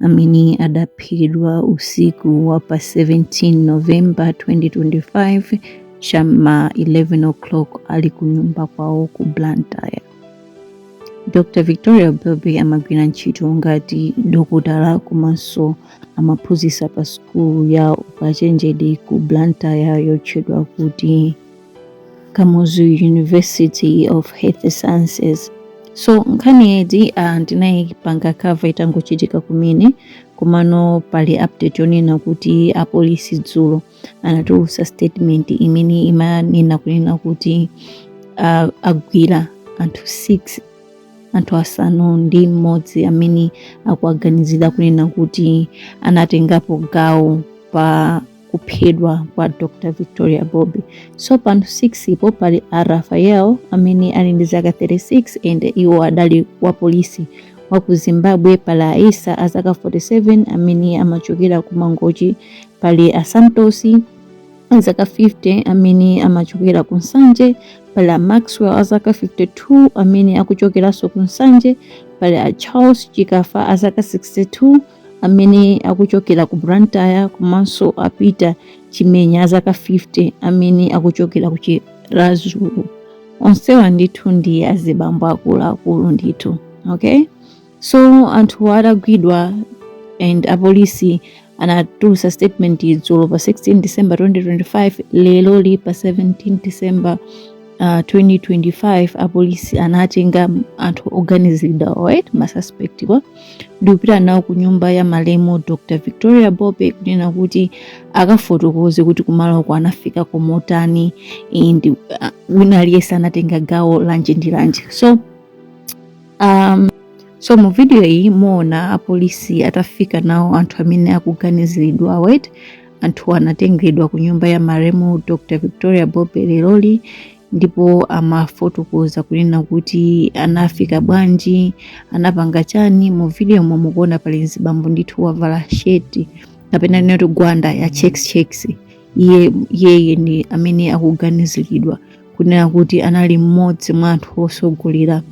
amene adaphedwa usiku wa pa 17 novemba 2025 cha ma 11 o'clock ali ku nyumba kwawo ku blantyre dr victoria bobe amagwira ntchito ngati dokotala komanso amaphunzitsa pa sukulu ya ukachenjede ku blantyre yotchedwa kuti kamuzu university of health sciences so nkhaniyidi uh, ndinayipanga cover itangochitika kumene komano pali update yonena kuti apolisi dzulo anatulutsa statement imene imanena kunena kuti uh, agwira anthu 6 anthu asanu ndi mmodzi amene akuwaganizira kunena kuti anatengapo gawo pa kuphedwa kwa Dr. Victoria Bobe. So pa anthu 6 po pali a Raphael amene ali ndi zaka 36 and iwo adali wa polisi wa ku Zimbabwe pali a Issa a zaka 47 amene amachokera ku Mangochi pali a Santosi a zaka 50 amene amachokera ku Nsanje pali a Maxwell a zaka 52 amene akuchokeranso ku Nsanje pali a Charles Chikafa a zaka 62 amene akuchokera ku Blantyre komanso a Peter Chimenya azaka 50 amene akuchokera ku Chiradzulu. Onsewa ndithu ndi azibambo akuluakulu ndithu. Okay? So anthu adagwidwa and apolisi anatulutsa statement dzulo pa 16 December 2025 lero li pa 17 December uh, 2025 apolisi anatenga anthu oganiziridwa ma suspect wa ndikupita nawo ku nyumba ya malemu dr victoria bobe kunena kuti akafotokoze kuti kumalo ko anafika ko motani and wina aliyense anatenga gawo lanji ndi lanji so um, so mu video iyi muona apolisi atafika nawo anthu amene akuganiziridwa wet anthu anatengedwa ku nyumba ya malemu dr victoria bobe leroli ndipo amafotokoza kunena kuti anafika bwanji anapanga chani mu video momwe mukuona pali mzibambo ndithu wavala sheti kapena nditi gwanda ya checks checks iye yeye ndi amene akuganiziridwa kunena kuti anali mmodzi mwa anthu osogolera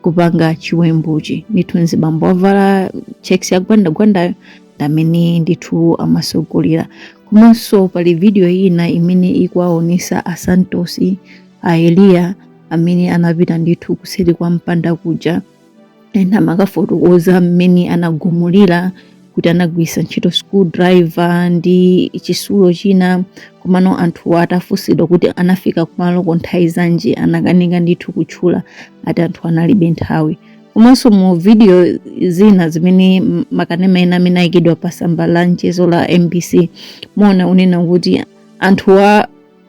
kupanga chiwembuchi ndithu mzibambo wovala checks yagwandagwandayo ndamene ndithu amasogolera komanso pali video ina imene ikuwaonesa a santos a eliya amene anapita ndithu kuseri kwa mpanda kuja and amakafotokoza mmene anagumulira kuti anagwiritsa ntchito screwdriver ndi chitsulo china komano anthuwa atafunsidwa kuti anafika kumaloko nthawi zanji anakanika ndithu kutchula ati anthu analibe nthawi komanso mu video zina zimene m- makanema ena amene ayikidwa pa tsamba la mchezo la mbc muona unena kuti anthuwa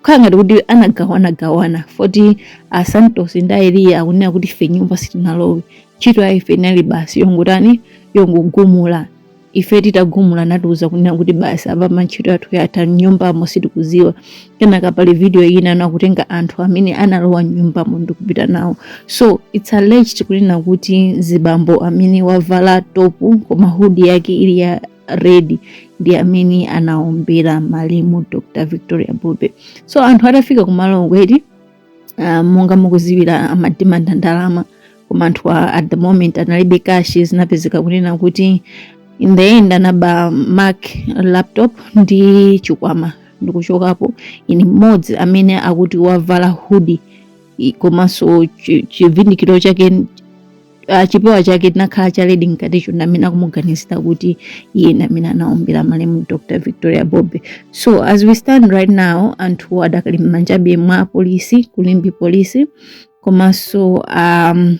kukhala ngati kuti anagawanagawana poti a santos ndi aeliya akunena kuti ife mnyumba sitinalowe ntchito ya ife inali basi yongotani yongogumula ife titagumula natiuza kunena kuti basi apapa ntchito yathu yatha mnyumbamo sitikuziwa kenaka pali video ina akutenga anthu amene analowa mnyumbamo ndikupita nawo so its alleged kunena kuti mzibambo amene wavala topu koma hudi yake ili ya red ndi amene anaombera malemu dr victoria bobe so anthu atafika kumaloko eti uh, monga mukuziwira amadimanda ndalama koma anthu a- at the moment analibe kashi zinapezeka kunena kuti in the end anaba mac laptop ndi chikwama ndikuchokapo iye mmodzi amene akuti wavala hudi i- komanso chi- chivindikiro chake ah, chipewa chake chinakhala cha red mkaticho ndamene akumuganizira kuti iye ndamene anaombera malemu dr victoria bobe so as we stand right now anthu adakali mmanjabe mwa polisi ku limbe polisi komanso um,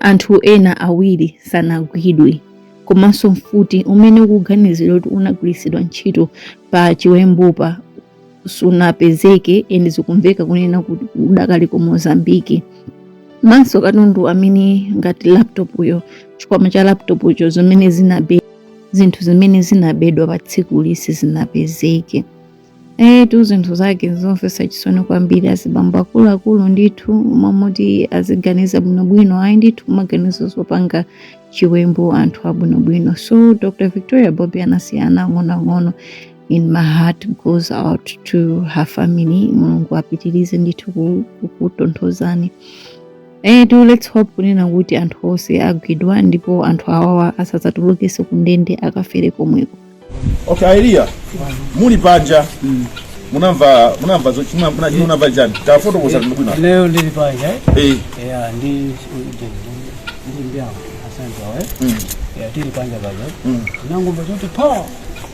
anthu ena awiri sanagwidwe komanso mfuti umene ukuganizidwa kuti unagwiritsidwa ntchito pa chiwembupa sunapezeke and zikumveka kunena kuti udakali ku mozambiki komanso katundu amene ngati laptop uyo chikwama cha laptop ucho zimene zinabe zinthu zimene zinabedwa pa tsikuli sizinapezeke etu zinthu zake zomvetsa chisoni kwambiri azibambo akuluakulu ndithu momati aziganiza bwinobwino ayi ndithu kumaganiza zopanga chiwembu anthu abwinobwino so dr victoria bobe anasiya ana ang'onoang'ono and my heart goes out to her family mulungu apitirize ndithu kukutonthozani eti let's hope kunena kuti anthu onse agwidwa ndipo anthu awawa asadzatulukenso kundende akafere komweko okay aeliya muli panja munamva munamva zochimwa muna chimuna panja tafoto kusati ndibwino leo ndili panja eh ya ndi ndi mbyangu asante wae ya tili panja panja nangomba choti pa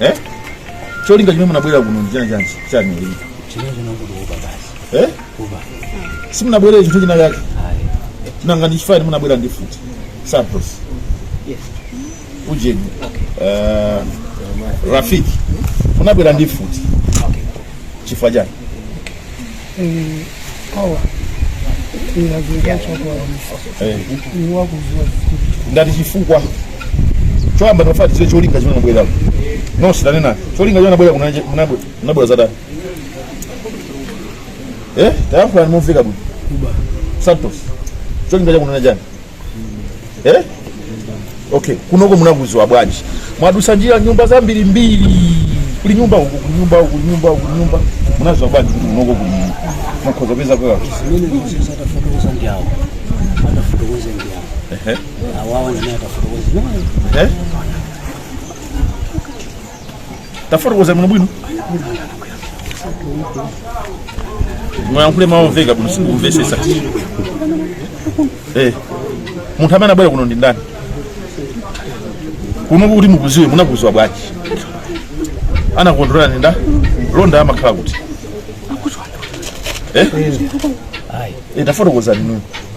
Eh? Cholinga chimene munabwera kuno ndi chani chani chani ili? Chimene china ndi kuba basi. Eh? Kuba. Simunabwerere chinthu china chake. Ayi. Nanga ndi chifani munabwera ndi mfuti. Santos. Yes. Ujeni. Eh, Rafiki. Munabwera ndi mfuti. Okay. Chifukwa chani? ndati chifukwa choyamba tafuna tidziwe cholinga chimene munabwera kuno simunanene cholinga chimene munabwera kunaje- munabwe- munabwera zatani eh tayankhulani mumveka bwino santos cholinga chakunena chani eh? okay kunoko munakuziwa bwanji mwadusa njira nyumba zambiri mbiri kuli nyumba uku kuli nyumba uku kuli nyumba uku kuli nyumba munaziwa bwanji kuti kunoko kuli mukhoza peza kwa zimene sasa atafotokoza ndi awo atafotokoza ndi awo ehe awawa ndine atafotokoza ehe tafotokozani bwino bwino muyankhule mawu omveka bwino sindikumvesesa eh munthu amene anabwera kuno ndi ndani kuno kuti mukuziwe munakuziwa bwanji anakulondolerani ndani Londa amakhala kuti eh? Eh, tafotokozani nuyo